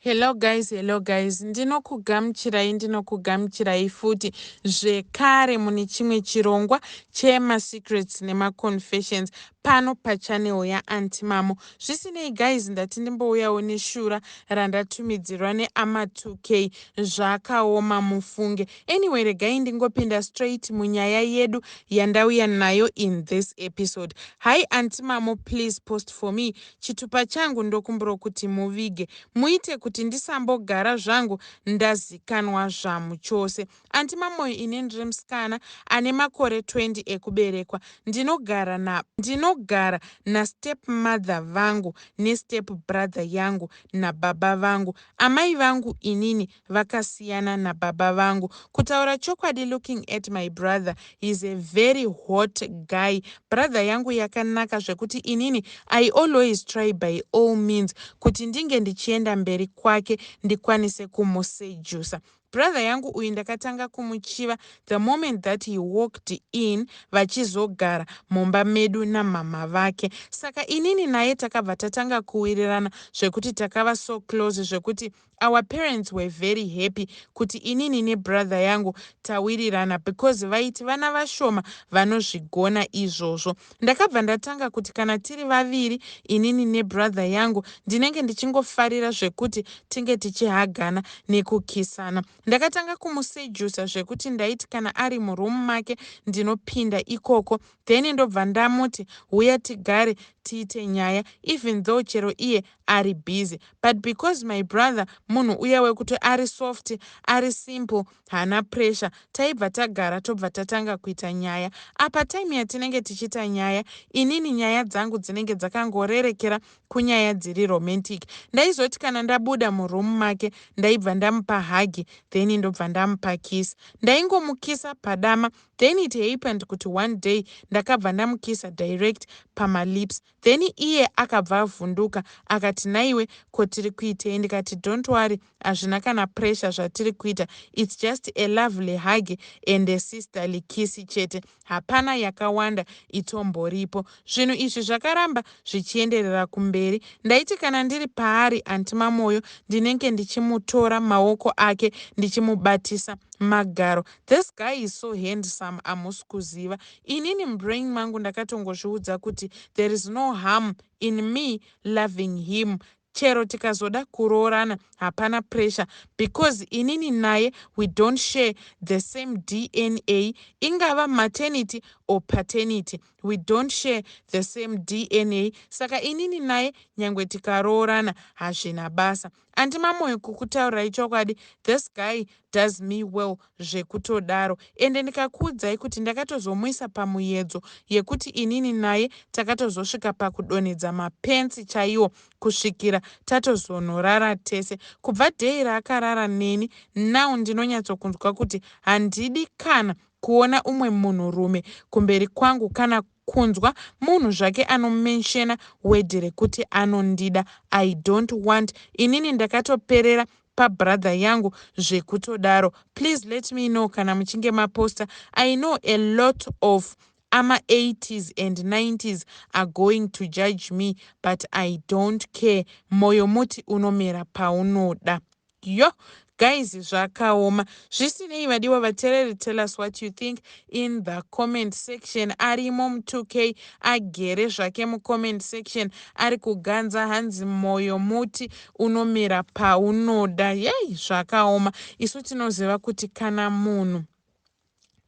Hello guys, hello guys. Ndinokugamuchirai, ndinokugamuchirai futi zvekare mune chimwe chirongwa chema secrets nema confessions pano pachannel ya Aunty Mamo. Zvisinei guys, ndati ndimbouyawo neshura randatumidzirwa ne Ama 2K zvakaoma mufunge. Anyway, regai ndingopinda straight munyaya yedu yandauya nayo in this episode. Hi Aunty Mamo, please post for me. Chitupa changu ndokumbiro kuti muvige muite kuti ndisambogara zvangu ndazikanwa zvamu chose. Anti Mamoyo ini ndiri musikana ane makore 20 ekuberekwa ndinogara na ndinogara na step mother vangu ne step brother yangu na baba vangu amai vangu inini vakasiyana nababa vangu kutaura chokwadi looking at my brother he's a very hot guy brother yangu yakanaka zvekuti inini i always try by all means kuti ndinge ndichienda mberi kwake ndikwanise kumusejusa brother yangu uyu ndakatanga kumuchiva the moment that he walked in vachizogara mumba medu namhamha vake saka inini naye takabva tatanga kuwirirana zvekuti takava so close zvekuti Our parents were very happy kuti inini nebrother yangu tawirirana because vaiti vana vashoma vanozvigona izvozvo. Ndakabva ndatanga kuti kana tiri vaviri inini nebrother yangu ndinenge ndichingofarira zvekuti tinge tichihagana nekukisana. Ndakatanga kumusejusa zvekuti ndaiti kana ari muroom make ndinopinda ikoko Then ndobva ndamuti huya tigare tiite nyaya even though chero iye ari busy but because my brother munhu uya wekuti ari soft ari simple haana pressure taibva tagara tobva tatanga kuita nyaya. Apa time yatinenge tichiita nyaya inini nyaya dzangu dzinenge dzakangorerekera kunyaya dziri romantic ndaizoti kana ndabuda muroom make ndaibva ndamupa hug then ndobva ndamupa kiss. Ndaingomukisa padama then it happened kuti one day ndakabva ndamukisa direct pama lips then iye akabva avhunduka akati nhaiwe ko tiri kuitei ndikati don't worry hazvina kana pressure zvatiri kuita it's just a lovely hug and a sisterly kiss chete hapana yakawanda itomboripo zvinhu izvi zvakaramba zvichienderera kumberi ndaiti kana ndiri paari anti mamoyo ndinenge ndichimutora maoko ake ndichimubatisa magaro This guy is so handsome hamusi kuziva. Inini mubrain mangu ndakatongozviudza kuti there is no harm in me loving him chero tikazoda kuroorana hapana pressure because inini naye we don't share the same dna ingava maternity or paternity we don't share the same dna saka inini naye nyangwe tikaroorana hazvina basa Aunty Mamoyo kukutaurirai chokwadi this guy does me well zvekutodaro ende ndikakuudzai kuti ndakatozomuisa pamuyedzo yekuti inini naye takatozosvika pakudonhedza mapensi chaiwo kusvikira tatozonorara tese kubva day raakarara neni now ndinonyatsokunzwa kuti handidi kana kuona umwe munhurume kumberi kwangu kana kunzwa munhu zvake ano mentioner word rekuti anondida I don't want inini ndakatoperera pa brother yangu zvekutodaro please let me know kana muchinge ma poster I know a lot of ama 80s and 90s are going to judge me but I don't care moyo muti unomera paunoda Yoh guys zvakaoma. Zvisinei vadiwa vatereri tell us what you think in the comment section arimo mu 2k agere zvake mu comment section ari kuganza hanzi moyo muti unomera paunoda yey zvakaoma isu tinoziva kuti kana munhu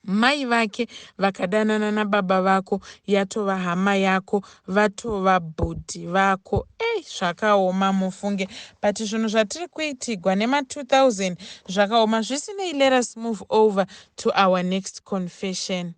mai vake vakadanana nababa vako yatova hama yako vatova bhudhi vako ei zvakaoma mufunge but zvinhu zvatiri kuitigwa nema2000 zvakaoma zvisinei let us move over to our next confession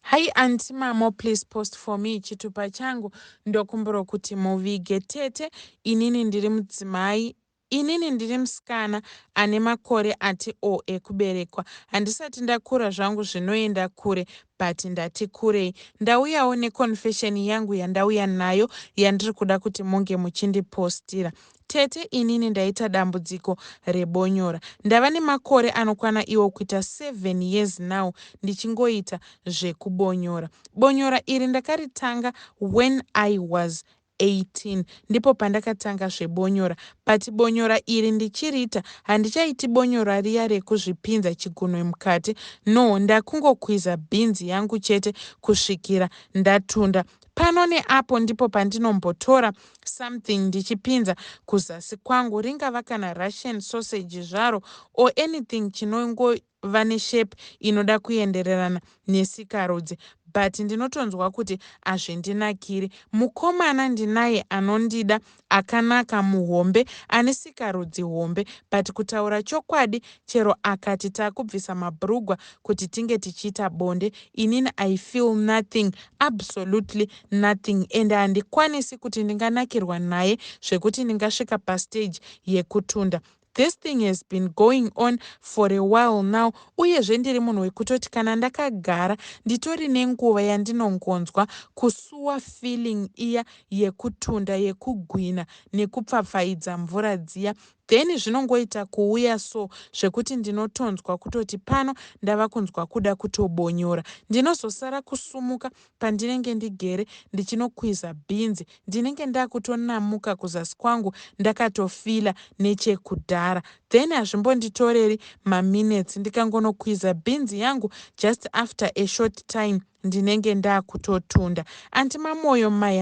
hai anti mamo please post for me chitupa changu ndokumbiro kuti muvige tete inini ndiri mudzimai Inini ndiri musikana ane makore ati o ekuberekwa. Handisati ndakura zvangu zvinoenda kure but ndati kurei. Ndauyawo ne confession yangu yandauya nayo yandiri kuda kuti munge muchindi postira. Tete inini ndaita dambudziko rebonyora. Ndava nemakore anokwana iwo kuita seven years now ndichingoita zvekubonyora. Bonyora iri ndakaritanga when I was 18 ndipo pandakatanga zvebonyora but bonyora iri ndichiriita handichaiti bonyora riya rekuzvipinza chigunwe mukati no ndakungokwiza beans yangu chete kusvikira ndatunda pano neapo ndipo pandinombotora something ndichipinza kuzasi kwangu ringava kana russian sausage zvaro or anything chinongo vane shape inoda kuendererana nesikarudzi but ndinotonzwa kuti azvindinakiri. Mukomana ndinaye anondida, akanaka, muhombe, ane sikarudzi hombe but kutaura chokwadi chero akati takubvisa mabhurugwa kuti tinge tichiita bonde inini I feel nothing, absolutely nothing ende handikwanisi kuti ndinganakirwa naye zvekuti ndingasvika pastage yekutunda. This thing has been going on for a while now uyezve ndiri munhu wekutoti kana ndakagara nditori nenguva yandinongonzwa kusuwa feeling iya yekutunda yekugwina nekupfapfaidza mvura dziya then zvinongoita kuuya so zvekuti ndinotonzwa kutoti pano ndava kunzwa kuda kutobonyora ndinozosara kusumuka Pandinenge ndigere ndichinokwiza bhinzi ndinenge ndakutonamuka kuzasi kwangu ndakatofeeler nechekudhara then hazvimbonditoreri maminutes ndikangonokwiza bhinzi yangu just after a short time ndinenge ndakutotunda. Anti Mamoyo my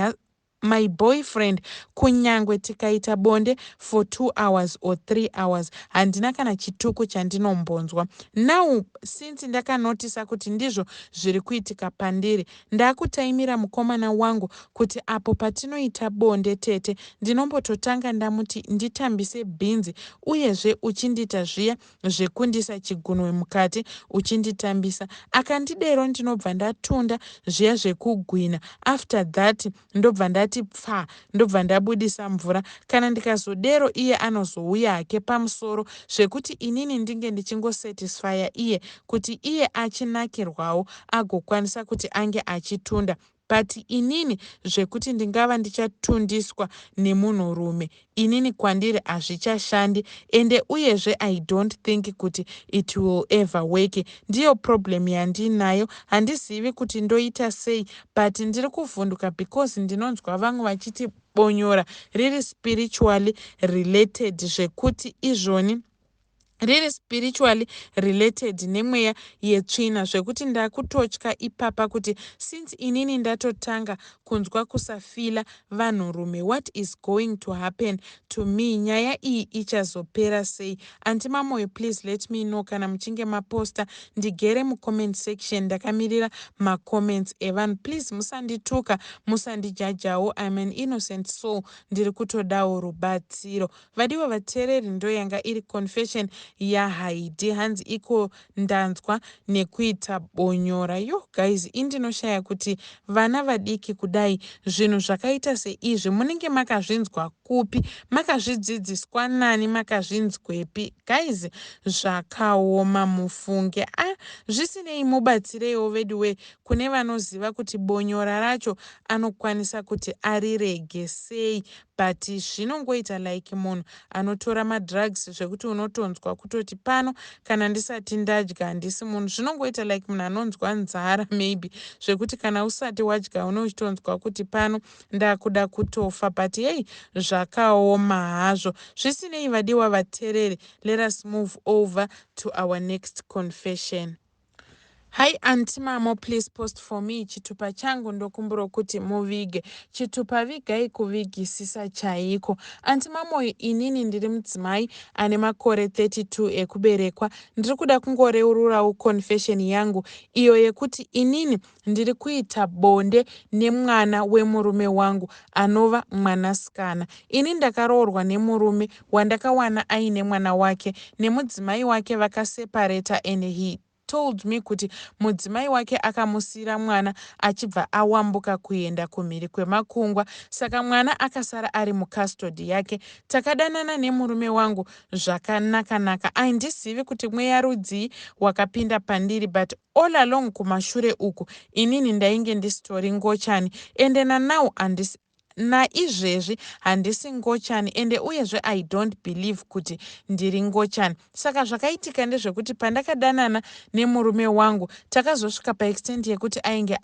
My boyfriend kunyangwe tikaita bonde for two hours or three hours handina kana chituko chandinombonzwa. Now since ndakanotisa kuti ndizvo zviri kuitika pandiri ndakutaimira mukomana wangu kuti apo patinoita bonde tete ndinombototanga ndamuti nditambise bhinzi uyezve uchindiita zviya zvekundisa chigunwe mukati uchinditambisa akandidero ndinobva ndatunda zviya zvekugwina after that ndobva ndati pfaa ndobva ndabudisa mvura kana ndikazodero iye anozouya hake pamusoro zvekuti inini ndinge ndichingosatisfya iye kuti iye achinakirwawo agokwanisa kuti ange achitunda But inini zvekuti ndingava ndichatundiswa nemunhu rume inini kwandiri hazvichashandi ende uyezve I don't think kuti it will ever work ndiyo problem yandiinayo handizivi kuti ndoita sei but ndiri kuvhunduka because ndinonzwa vamwe vachiti bonyora riri spiritually related zvekuti izvoni riri spiritually related nemweya yetsvina zvekuti ndakutotya ipapa kuti since inini ndatotanga kunzwa kusafila vanhurume what is going to happen to me nyaya iyi ichazopera sei anti mamoyo please let me know kana muchinge maposta ndigere mucomment section ndakamirira macomments evanhu please musandituka musandijajawo im an innocent soul ndiri kutodawo rubatsiro Vadiwa vateereri ndoyanga iri confession yaHaidee hanzi iko ndanzwa nekuita bonyora yoh guys ini ndinoshaya kuti vana vadiki kudai zvinhu zvakaita seizvi munenge makazvinzwa kupi makazvidzidziswa nani makazvinzwepi guys zvakaoma mufunge a ah, zvisinei mubatsireiwo veduwe kune vanoziva kuti bonyora racho anokwanisa kuti arirege sei But zvinongoita like munhu anotora madrugs zvekuti unotonzwa kutoti pano kana ndisati ndadya handisi munhu. Zvinongoita like munhu anonzwa nzara maybe zvekuti kana usati wadya une uchitonzwa kuti pano ndakuda kutofa but hei zvakaoma hazvo. Zvisinei vadiwa vatereri let us move over to our next confession. Hi anti mamo please post for me chitupa changu ndokumburo kuti muvige chitupa vigai kuvigisisa chaiko anti mamoyo inini ndiri mudzimai ane makore 32 ekuberekwa ndiri kuda kungoreururawo confession yangu iyo yekuti inini ndiri kuita bonde nemwana wemurume wangu anova mwanasikana. Ini ndakaroorwa nemurume wandakawana aine mwana wake nemudzimai wake vakasepareta and he told me kuti mudzimai wake akamusiira mwana achibva awambuka kuenda kumhiri kwemakungwa saka mwana akasara ari mucustody yake. Takadanana nemurume wangu zvakanakanaka. Aindizivi kuti mweya rudzii wakapinda pandiri but All along kumashure uku inini ndainge ndisitori ngochani ende nanow handisi naizvezvi handisi ngochani ende uyezve i don't believe kuti ndiri ngochani saka zvakaitika ndezvekuti pandakadanana nemurume wangu takazosvika paextent yekuti ainge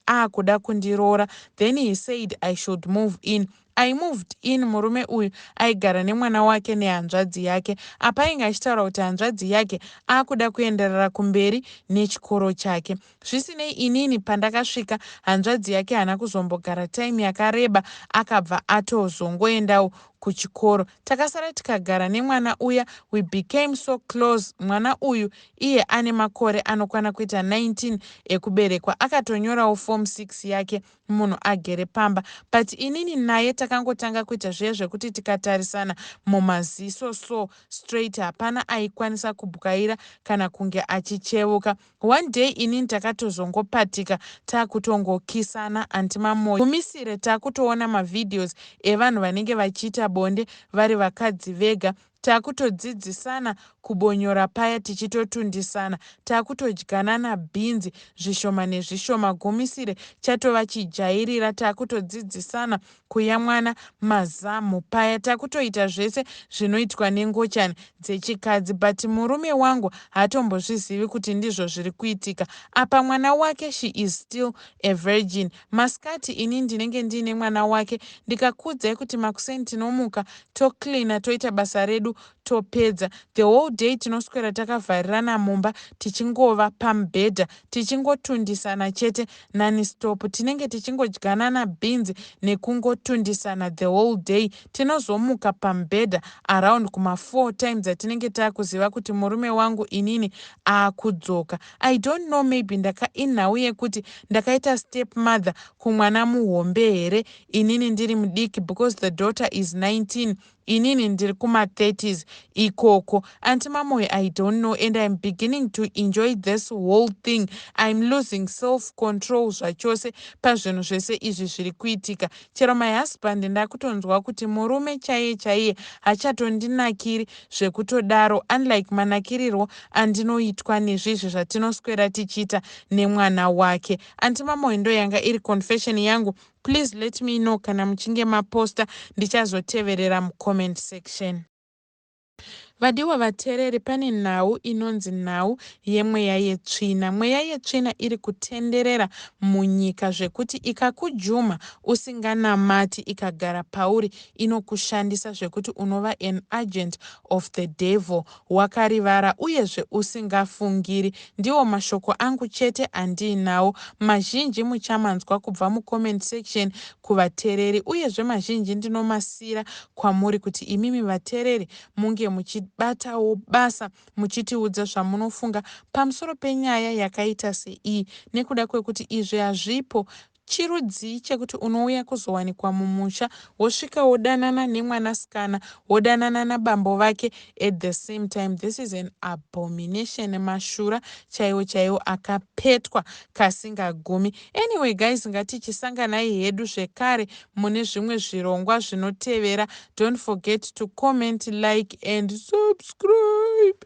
aakuda kundiroora then he said i should move in I moved in murume uyu aigara nemwana wake nehanzvadzi yake apa ainge achitaura kuti hanzvadzi yake akuda kuenderera kumberi nechikoro chake zvisinei inini pandakasvika hanzvadzi yake hana kuzombogara time yakareba akabva atozongoendawo kuchikoro takasara tikagara nemwana uya we became so close mwana uyu iye ane makore anokwana kuita 19 ekuberekwa akatonyorawo form 6 yake munhu agere pamba but inini naye takangotanga kuita zviya zvekuti tikatarisana mumaziso so straight hapana aikwanisa kubwaira kana kunge achichevuka one day inini takatozongopatika takutongokisana anti mamoyo mumisire takutoona mavideos evanhu vanenge vachiita bonde vari vakadzi vega Takutodzidzisana kubonyora paya tichitotundisana. Takutodyanana bhinzi zvishoma nezvishoma. Gumisire chatova chijairira. Takutodzidzisana kuyamwana mazamhu paya. Takutoita zvese zvinoitwa nengochani dzechikadzi but murume wangu haatombozvizivi kuti ndizvo zviri kuitika. Apa mwana wake she is still a virgin. Masikati ini ndinenge ndiine mwana wake ndikakuudzai kuti makuseni tinomuka tocleaner toita basa redu topedza. The whole day tinoswera takavharirana mumba tichingova pamubhedha tichingotundisana chete nonstop. Tinenge tichingodyanana bhinzi nekungotundisana the whole day. Tinozomuka pamubhedha around kuma four time dzatinenge taakuziva kuti murume wangu inini aakudzoka. I don't know maybe ndaka inhau yekuti ndakaita step mother kumwana muhombe here inini ndiri mudiki because the daughter is 19 inini ndiri kuma 30s ikoko anti mamoyo i don't know and im beginning to enjoy this whole thing im losing self control zvachose pazvinhu zvese izvi zviri kuitika Chero my husband ndakutonzwa kuti murume chaiye chaiye hachatondinakiri zvekutodaro unlike manakirirwo andinoitwa nezvizvi zvatinoswera tichiita nemwana wake. Anti Mamoe ndoyanga iri confession yangu please let me know kana muchinge maposter ndichazoteverera mucomment section. Vadiwa vateereri pane nhau inonzi nhau yemweya yetsvina. Mweya yetsvina iri kutenderera munyika zvekuti ikakujuma usinganamati ikagara pauri inokushandisa zvekuti unova an agent of the devil wakarivara uyezve usingafungiri. Ndiwo mashoko angu chete andiinawo. Mazhinji muchamanzwa kubva mucomment section kuvatereri uyezve mazhinji ndinomasiyira kwamuri kuti imimi vatereri munge muchibatawo basa muchitiudza zvamunofunga pamusoro penyaya yakaita seiyi nekuda kwekuti izvi hazvipo chirudzii chekuti unouya kuzowanikwa mumusha wosvika wodanana nemwanasikana wodanana nabambo vake at the same time this is an abomination mashura chaiwo chaiwo akapetwa kasingagumi Anyway guys ngatichisanganai hedu zvekare mune zvimwe zvirongwa zvinotevera don't forget to comment like and subscribe